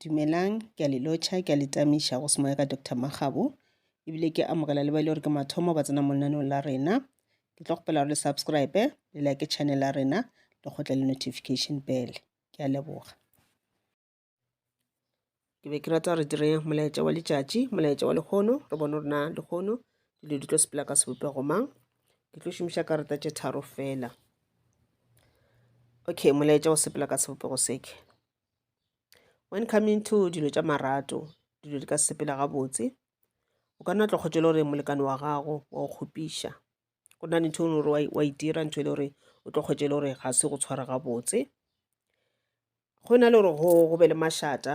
Dumelang, ke a le lotšha, ke a le tamiša go semoya ka Doctor Makgabo, ebile ke amogela le ba e le gore ke mathomo ba tsena mo lenaneong la rena. Ke tlo kgopela gore le subscribe, le like channel ya rena, le kgotle le notification bell. Ke a leboga. Ke be ke rata re dire molaetša wa letšatši, molaetša wa lekgono, re bone gore na lekgono dilo di tlo sepela ka sebopego mang. Ke tlo šomiša karata tše tharo fela. okay molaetša o sepela ka sebopego seke when coming to dilo tša marato dilo di ka sepela gabotse o ka nna tlo kgotša le gore molekane wa gago wa go kgopiša go na le ntho e gore wa e dira ntho e le gore o tlo kgotša le gore ga se go tshwara gabotse go na le gore go be le mašata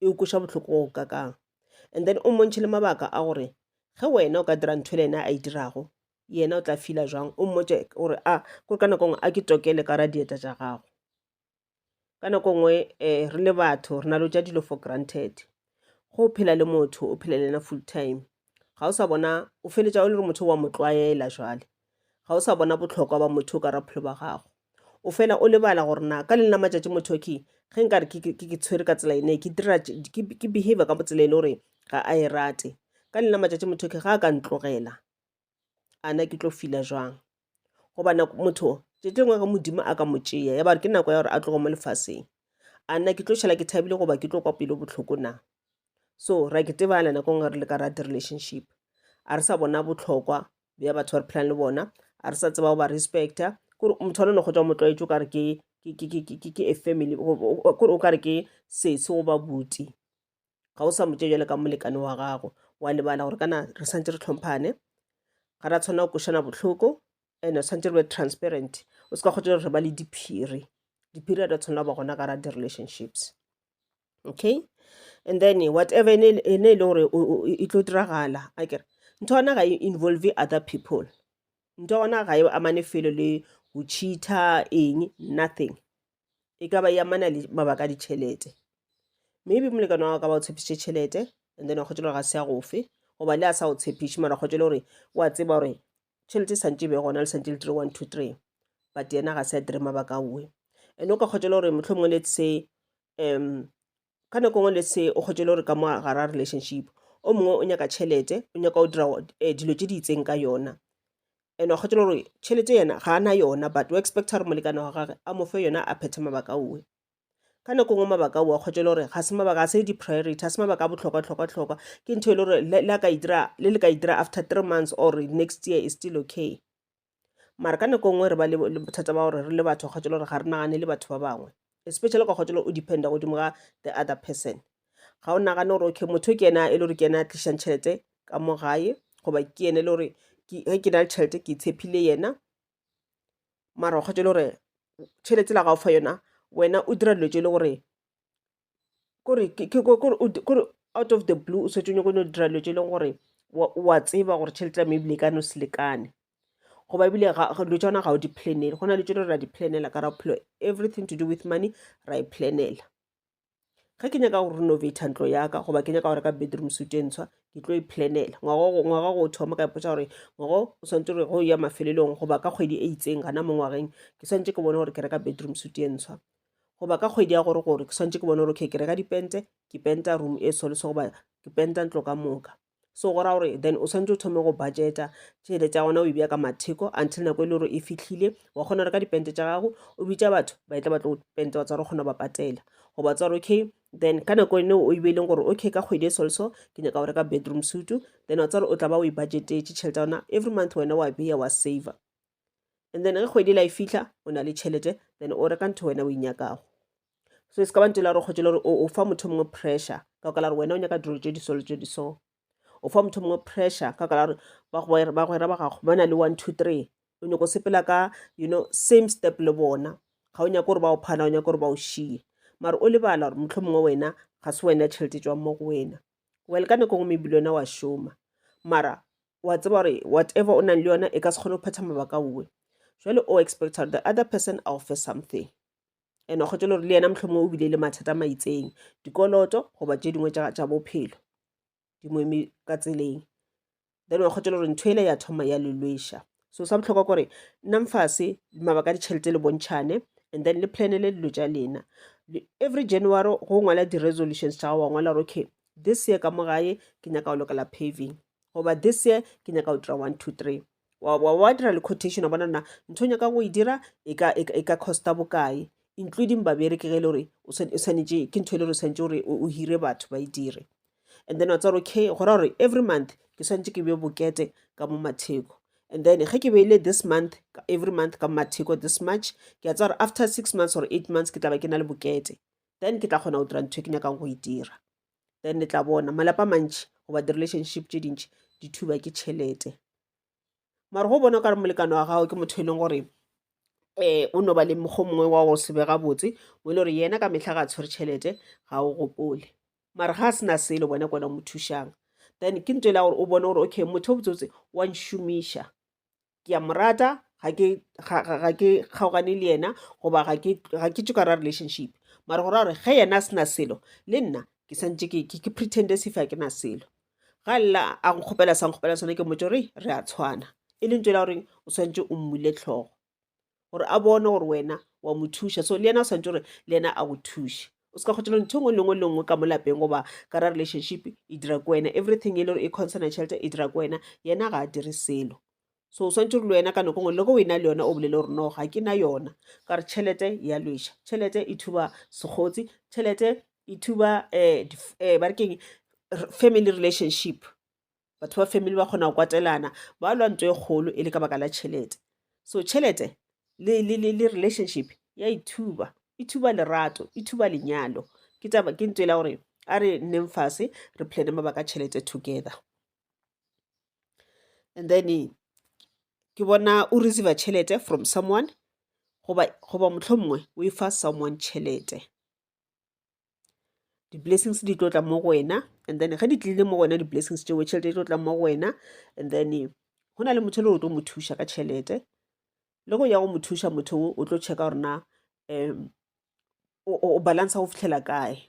e o kweša bohloko go kakang and then o mmontšhe le mabaka a gore ge wena o ka dira ntho le ena a e dirago yena o tla fila jwang o mmotse gore a ah, kore ka nako nngwe a ke tokele ka ra dieta tša gago ka nako nngwe um re le batho re na le tša dilo for granted go o phela le motho o phela le ena full time ga o sa bona o feletša o le gore motho wa mo tlwaela jwale Ga o sa bona bohlokwa ba motho ka raphelo ba gago. O fela o lebala gore na ka leng la matšatši motho ke ge nka re ke tshwere ka tsela ene ke dira ke behavior ka botsela e le gore ga a e rate ka leng la matšatši motho ke ga a ka ntlogela ana ke tlo fila jwang goba motho tšatši lengwe ge modimo a ka mo tšea ya bare ke nako ya gore a tlogo mo lefaseng ana ke tlo šala ke thabile goba ke tlo kwa pelo bohloko na so ra ke tebana nako nngwe re le ka rate relationship a re sa bona botlhokwa bja batho ba re phelang le bona a re sa tseba go ba respecta kore motho wa lone kgotsa o motlwaetse o kare ke a family kore o kare ke sese goba buti ga o sa motse jale ka molekane wa gago wa lebala gore kana re santse re tlhomphane ga ra tshwanela go košana botlhoko and tshwanetse re be transparent o se ka kgotsa re ba le diphiri diphiri a di tshwanela go ba gona ka ra di-relationships okay and then whatever ene e le gore e tlo diragala a kere ntho yona ga e involve other people ntho yona ga e amane felo le go cheater eng nothing e ka ba e amana le mabaka a ditšhelete maybe molekane wa ka ba o tshepišitše tšhelete and then wa kgotsa gore ga se ya gofe goba le a sa o tshepiše mara kgotsa le gore wa tseba gore tšhelete e santse e be gona le santse le tiro one two three but yena ga se a dire mabaka a oe and o ka kgotsa le gore motlho mongwe let's say um ka nako e nngwe let's say o kgwetše e le gore ka mo gare ga relationship o mongwe o nyaka tšhelete o nyaka go dira dilo tše di itseng ka yona and wa kgwetše e le gore tšhelete yena ga a na yona but o expecta gore molekane wa gage a mo fe yona a phethe mabaka owe ka nako e nngwe mabaka owe a kgwetše e le gore ga se mabaka a se di-priority a se mabaka a botlhokwa-tlhokwa-tlhokwa ke ntho e le gore le le ka e dira after three months or next year is still okay mara ka nako e nngwe re ba le bothata ba gore re le batho kgotsa le gore ga re nagane le batho ba bangwe especially ka kgotsa o dependa godimo ga the other person ga o nagane gore okay motho ke ena e le gore ke ena a tlišang tšhelete ka mo gae goba ke ene e le gore ge ke na le tšhelete ke tshepile yena mara kgotsa e le gore tšhelete la ga o fa yona wena o dira dilo tse e le gore kore kore out of the blue o setse o nyako no dira dilo tse e leng gore wa tseba gore tšhelete ya mebile e ka no se lekane goba ebile dilo tša gona ga o di planele go na le tsone ra di planela ka ra bophelo everything to do with money ra e planela ge ke nyaka go renovata ntlo yaka goba ke nyaka go reka bedroom suit e ntshwa ke tlo e planela ngwaga go thoma ka ipotsa gore ngwago o swantse gore go ya mafelelong goba ka kgwedi e itseng gana mo ngwageng ke swantse ke bone gore ke reka bedroom suit e ntshwa goba ka kgwedi ya gore gore ke swantse ke bone gore okay ke reka dipente ke penta room e solese goba ke penta ntlo ka moka so go ra gore then o swantse o thome go budgeta tšhelete ya gona o e bja ka matheko until nako e le gore e fitlhile wa kgona go reka dipente tša gago o bitša batho ba e tla ba tlo penta wa tsa gore kgona ba patela goba tsa gore okay then ka nako ene o ibeileng gore okay ka kgwedi e solso ke nyaka go reka bedroom sutu then wa tsa gore o tla ba o e budgetetse tšhelete ya gona every month wena wa beya wa saver and then ge kgwedi la e fitlha o na le tšhelete then o reka ntho wena o inyakago so e se ka ba ntho la gore kgotse le gore o fa motho mongwe pressure ka ka la gore wena o nyaka dilo tse di solo tse di so o fa motho mongwe pressure ka ka la gore bagwera ba gago ba na le one two three o nyako sepela ka you know same step le bona ga o nyako gore ba o phana o nyako gore ba o šiye mara o lebala gore motlho mongwe wena ga se wena tšhelete tswang mo go wena Well, ka nako ngwe maybe wa šoma mara wa tseba gore whatever o nang le yona e ka se kgone go phetha mabaka uwe jale o expect gore the other person a offer something and wa kgotse le gore le yena motlhomo o bile le mathata ma itseng dikoloto goba tse dingwe tša bophelo dingwe ka tseleng then wa kgotšela gore ntho ele ya thoma ya lelweša so sa botlhokwa kore nnang fase mabaka a ditšhelete le bontšhane and then le planele dilo tša lena every january go ngwala di-resolutions tša gago wa ngwala gore okay this year ka mo gae ke nyaka go lokela paving goba this year ke nyaka go dira one two three wa dira le quotation wa bona na ntho o nyaka go e dira e ka e, e costa bokae including babereki ge e le gore o swanetše ke ntho e le gore o swanetše gore o hire batho ba e dire and then wa tseba gore okay go raya gore every month ke swanetse ke beye bokete ka mo matheko and then ge ke beile this month every month ka matheko this march ke a tsa gore after six months or eight months ke tla ba ke na le bokete then ke tla kgona go dira ntho e ke nyakang go e dira then le tla bona malapa mantši goba di-relationship tše dintši di thuba ke tšhelete mara go bona o kare molekane wa gago ke motho e leng gore um o no ba le mokgwa mongwe wa go se be gabotse mo e le gore yena ka metlha ga a tshwere tšhelete ga o gopole mara ga a sena selo bone kona mo thušang then ke nto e la gore o bone gore okay motho o botsebotse wa nšomiša ke a mo rata ga ke kgaogane le yena goba ga ke tso ka ra relationship mara go ra gore ge yena a sena selo le nna ke santse ke pretende sefa ke na selo ga lla a go kgopela sa nkgopela sone ke mmotse gore re a tshwana e leng tsela goreng o tshwanetse o mmule tlhogo gore a bone gore wena wa mo thuša so le yena o tshwanetse gore le yena a go thuše o se ka kgotsa ntho e nngwe le nngwe le nngwe ka mo lapeng goba ka ra relationship e dira ko wena everything e le gore e concern tšhelete e dira ko wena yena ga a dire selo so o swantse re le wena ka nako ngwe le go wena le yona o bolele gore no ga ke na yona ka re tšhelete ya lweša tšhelete e thuba segotsi tšhelete e thuba um ba re keng family relationship batho ba family ba kgona go kwatelana ba lwa ntho e kgolo e le ka baka la tšhelete so tšhelete le, le, le, le relationship ya e thuba e thuba lerato e thuba lenyalo ke taba ke ntho e la gore a re nneng fase re plane mabaka tšhelete together and then ke bona o receiver tšhelete from someone goba goba mohlomongwe o e fa someone tšhelete. Di-blessings di tlo tla mo go wena and then ge di tlile mo go wena di-blessings tšeo tšhelete e tlo tla mo go wena and then go na le motho e le gore o tlo mo thuša ka tšhelete le go ya go mo thuša motho o o tlo checka gore na um o balance go fitlhela kae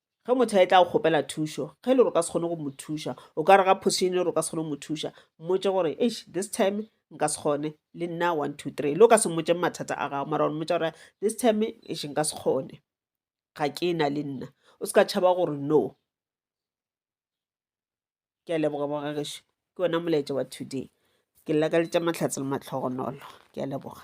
Ge motho a etla go kgopela thušo, ge e le gore o ka se kgone go mo thuša, o ka re ga phosišeng e le gore o ka se kgone go mo thuša, mmotše gore, Eish, this time nka se kgone, le nna one, two, three. Le o ka se mmotšeng mathata a gago, mara wa mmotša gore, this time, eish, nka se kgone, ga ke na le nna. O se ka tšhaba gore no. Ke a leboga bogagešo, ke ona molaetša wa today. Ke lla ka letša Mahlatse le Mahlohonolo. Ke a leboga.